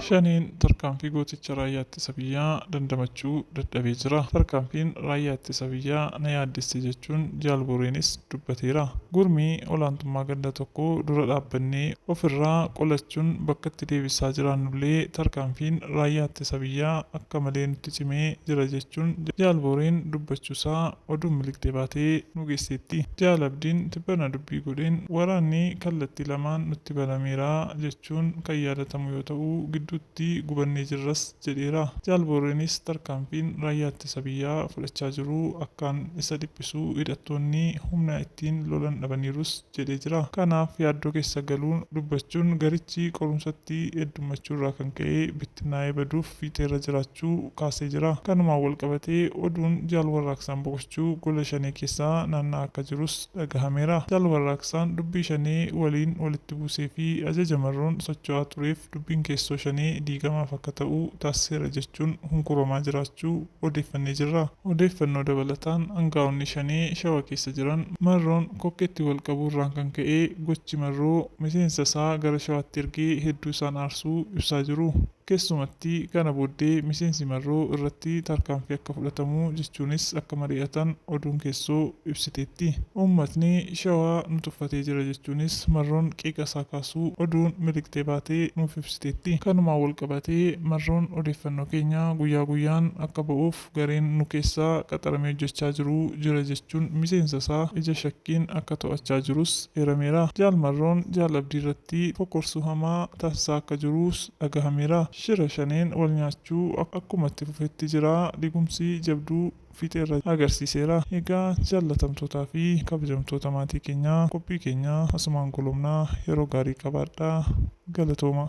Shaneen tarkaanfii gooticha raayyaa ittisa biyyaa dandamachuu dadhabee jira. Tarkaanfiin raayyaa ittisa biyyaa na yaaddesse jechuun Jaal Booreenis dubbateera. Gurmii olaantummaa ganda tokko dura dhaabbannee ofirraa qolachuun bakkatti deebisaa jiraannullee tarkaanfiin raayyaa ittisa biyyaa akka malee nutti cimee jira jechuun Jaal Booreen dubbachuusaa Oduun miliqxee baatee nu geesseetti. Jaal Abdiin tibbana dubbii godheen waraanni kallattii lamaan nutti banameera jechuun kan yaadatamu yoo ta'u, gidduutti gubannee jirras jedheera. Jaal Booreenis tarkaanfiin Raayyaa Ittisa Biyyaa fudhachaa jiru akkaan isa dhiphisu, hidhattoonni humna ittiin lolan dhabaniirus jedhee jira. Kanaaf yaaddoo keessa galuun dubbachuun garichi qorumsatti heddummachuu irraa kan ka'e bittinnaa'ee baduuf fiixee irra jiraachuu kaasee jira. Kanumaan walqabatee oduun Jaal Warraaqsaan boqochuu gola Shanee keessa naanna'aa akka jirus dhagahameera. Jaal Warraaqsaan dubbii Shanee waliin walitti buusee fi ajaja marroon socho'aa tureef dubbiin keessoo Shanee diigamaaf akka ta'u taasiseera jechuun hunkuramaa jiraachuu, odeeffannee jirra. Odeeffannoo dabalataan angaa'onni Shanee Shawa keessa jiran Marroon kokkeetti wal qabuu irraan kan ka'ee gochi Marroo miseensa isaa gara Shawaatti ergee hedduu isaan aarsuu ibsaa jiru. Keessumatti kana booddee miseensi Marroo irratti tarkaanfii akka fudhatamu jechuunis akka mari'atan oduun keessoo ibsiteetti. Uummatni Shawaa nu tuffatee jira jechuunis Marroon qeeqa isaa kaasuu oduun miliqxee baate nuuf ibsiteetti. Kanumaan wal qabatee Marroon odeeffannoo keenya guyyaa guyyaan akka ba'uuf gareen nu keessaa qaxaramee hojjechaa jiru jira jechuun miseensa isaa ija shakkiin akka to'achaa jirus eerameera. Jaal Marroon Jaal Abdii irratti fokkorsuu hamaa taasisaa akka jiruus dhagahameera. Shira Shaneen wal nyaachuu akkuma itti fufetti jira. Digumsi jabduu. fiixee irra agarsiiseera. Egaa jaallatamtootaa fi kabajamtoota maatii keenyaa qophii keenya asumaan golobna yeroo gaarii qabaadhaa galatoomaa.